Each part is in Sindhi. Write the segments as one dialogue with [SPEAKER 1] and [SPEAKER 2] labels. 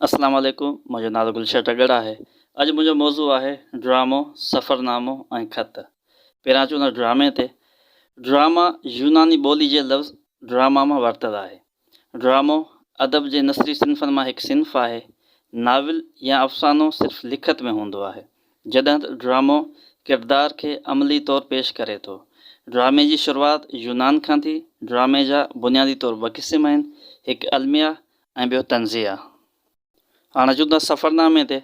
[SPEAKER 1] اسلام عليڪم منهنجو نالو گلشن ٽڳڙ آهي اڄ منهنجو موضوع آهي ڊرامو سفرنامو ۽ خط پهريان اچون ٿا ڊرامي تي ڊراما يوناني ٻولي جي لفظ ڊراما مان ورتل آهي ڊرامو ادب جي نثري صنفن مان هڪ صنف آهي ناول يا افسانو صرف لکت ۾ هوندو آهي جڏهن ته ڊرامو ڪردار کي عملي طور پيش ڪري ٿو ڊرامي جي شروعات يونان کان ٿي ڊرامي جا بنيادي طور ٻه قسم آهن هڪ الميا ۽ ٻيو طنزيه آ. هاڻ اچون ٿا سفرنامي تي.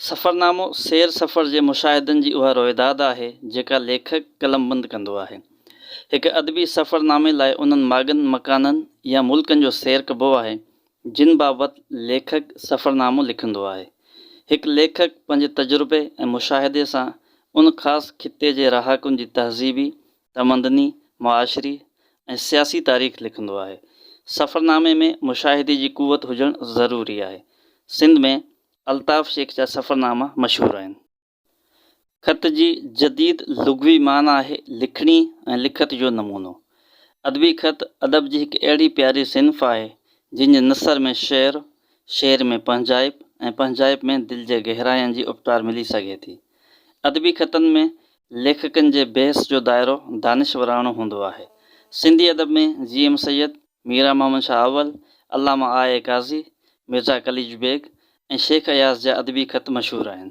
[SPEAKER 1] سفرنامو سير سفر جي مشاهدن جي اها روئداد آهي، جيڪا ليکڪ قلمبند ڪندو آهي. هڪ ادبي سفرنامي لاء انهن ماڳن، مڪانن يا ملڪن جو سير ڪبو آهي، جن بابت ليکڪ سفرنامو لکندو آهي. هڪ ليکڪ پنهنجي تجربي ۽ مشاهدي سان ان خاص خطي جي رهاڪن جي تهذيبي تمدني، معاشري ۽ سياسي تاريخ لکندو آهي. سفرنامي ۾ مشاهدي جي قوت هجڻ ضروري آهي. سنڌ ۾ الطاف شيخ جا سفرناما مشهور آهن. خط جي جديد لغوي معنيٰ آهي لکڻي ۽ لکت جو نمونو. ادبي خط ادب جي هڪ اهڙي پياري صنف آهي، جنهن جي نثر ۾ شعر، شعر ۾ پنهنجائپ ۽ پنهنجائپ ۾ دل جي گهراين جي اپٽار ملي سگهي ٿي. ادبي خطن ۾ ليکڪن جي بحث جو دائرو دانشوراڻو هوندو آهي. سنڌي ادب ۾ جي ايم سيد، ميران محمد شاهه اول، علامه آء اي قاضي، مرزا قليچ بيگ ۽ شيخ اياز جا ادبي خط مشهور آهن.